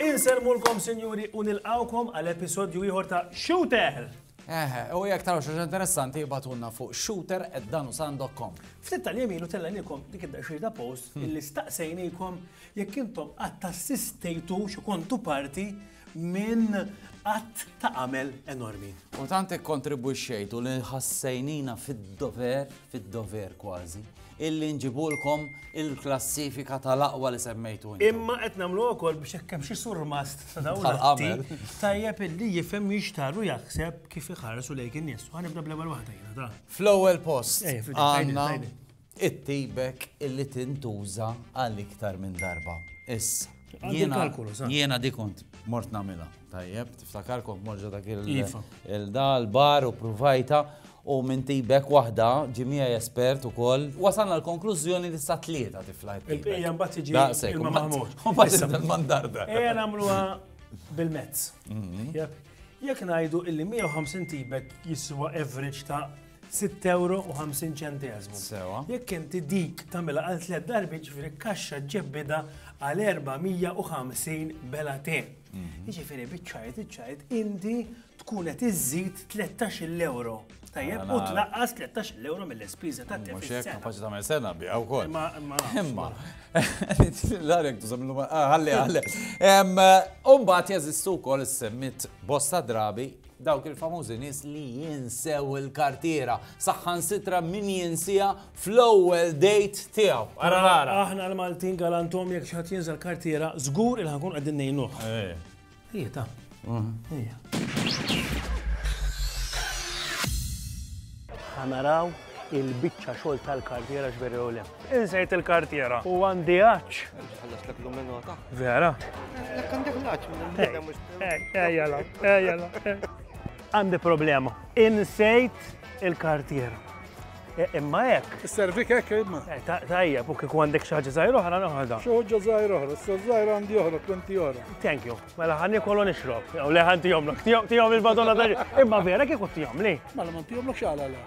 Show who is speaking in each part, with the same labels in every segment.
Speaker 1: Inselmulkom, sinjuri, u nilqawkom għal episodju ieħor ta' Shooter! Eħe, u jek taraw xaġa interessanti batunna fuq shooter at danusan.com. Ftit tal-jemilu tellanilkom dik id-daxxir ta' post illi staqsejnikom Jekk intom qatt assistejtux u kontu parti minn att ta' għamel enormi. U tant ikkontribwixxejtu li ħassejnina fid-dover, fid-dover kważi, illi nġibulkom il-klassifika tal-aqwa li semmejtu. Imma qed nagħmlu wkoll biex hekk hemm xi surmast ta' dawn l-għamel. Tajjeb illi jifhem jixtar u jaħseb kif iħarsu lejk in-nies. Ħanibda bl-ewwel waħda jiena ta'. Fl-ewwel post. Għandna Ittibek illi tintuża għal iktar minn darba. Issa. Jiena di kont mort namila. Tajjeb, tiftakar kont morġa dak iva. il-dal bar u provajta u minn tibek waħda ġimija espert u koll. Wasanna l-konklużjoni li sa tlieta tifla. Il-pija mbagħad tiġi il-mamut. Mbagħad il-mandarda. Ejja nagħmluha bil-mezz. Mhm. Jekk ngħidu illi 150 tibek jiswa average ta' 6 euro u 50 ċentesmu. Sewa. Jekk inti dik tagħmilha għal tliet darbi ġifieri kaxxa ġebbida għal 450 bela te. Mhm. Ġifieri biċċajt iċċajt inti tkun qed iżżid 13 euro. Tajjeb, u tlaqqas 13 euro mill-ispiża ta' tef. Mhux kapaċi tagħmel sena biha wkoll. Imma imma. L-għalek tużam l-lum, ah, għalli għalli. Umbat jeżistu wkoll is-semmit bosta drabi Dawk il-famużi nies li jinsew il-kartiera, saħħansitra min jinsija fl-ewwel date tiegħu. Ara nara. Aħna l-Maltin galantom jekk xi ħadd jinżel kartiera, żgur il ħankun qegħdin ngħinuh. Ejja ta. Ejja. Ħanaraw il-biċċa xogħol tal-kartiera x'veri jew le. Insejt il-kartiera u għandi għaċ. Ħallastlek l-minota. Vera. Ħallastlek għandek l-għaċ minn Ejjala, ejjala. Għandi problema. Insejt il-kartiera. E, imma hekk. Is-servik hekk imma. E, tajja, u kieku għandek xi ħaġa żgħir oħra noħodha. Xi ħaġa żgħir oħra, s żgħir għandi oħra, plenty oħra. Thank you. Mela ħanni kollu nixrob. Jew le ħanti jomlok, tihom il-badonna tal. Imma vera kieku tihom li. Mela ma tihomlok xala la.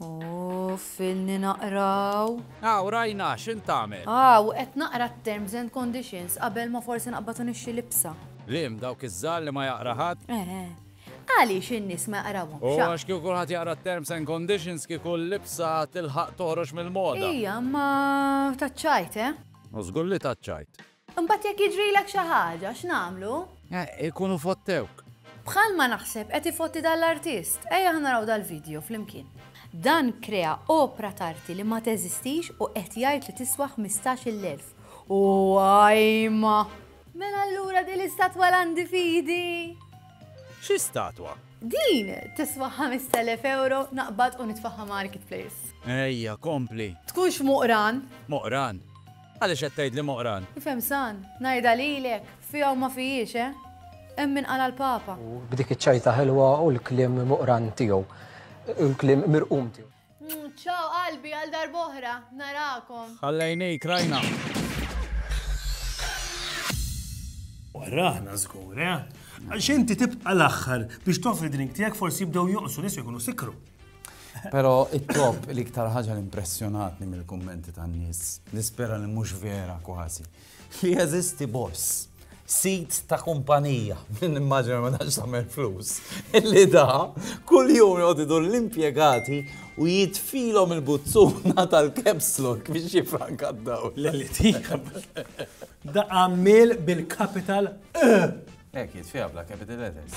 Speaker 1: U filni naqraw. Hawn rajna x'int tagħmel. Hawn qed naqra t-terms and conditions qabel ma forsi naqbad u nixtri libsa. Liem, dawk iż-żgħar li ma jaqra ħadd? Eħe. Għaliex in-nies ma jaqrawhomx, a? U għax kieku kulħadd jaqra t-terms and conditions kieku l-libsa tilħaq toħroġ mill-moda. Ija, imma taċċajt, eh? U żgur li taċċajt. Imbagħad jekk jiġrilek xi ħaġa, x'nagħmlu? Eh, ikunu fottewk. Bħalma naħseb qed ifotti dan l-artist. Ejja ħa naraw dal-video flimkien. Dan krea opra t'arti li ma teżistix u qed jgħid li tiswa 15,000. U għajma! Mela allura din l-istatwa l-għandi fidi! Xi statwa? Din tiswa 5,000 euro naqbad u nitfaħħa marketplace. Ejja, kompli. Tkunx moqran? Moqran. Għaliex qed tgħidli moqran? Ifhem san, ngħidha lilek, fiha u ma fijiex, eh? Hemm min qala l-Papa. U b'dik iċ-ċajta ħelwa u l-kliem moqran tiegħu. U l-kliem mirqum tiegħu. Ċaw qalbi għal darb'oħra, narakom. Ħallejnik rajna. Waraħna żgur, eh? Għax inti tibqa' l-aħħar biex toffri drink tiegħek forsi jibdew jonqsu nies u jkunu sikru. Pero it-top l-iktar ħaġa l-impressjonatni mill-kummenti tan-nies, nispera li mhux vera kważi, li jeżisti boss sit ta' kumpanija minn immaġina ma tax tagħmel flus. Illi da kull jum jgħodidu l-impjegati u jitfilhom il-buzzuna tal-capslok biex jifranka d-daw. L-eliti. Da għamil bil-kapital. Ek, jitfija bla kapital letters.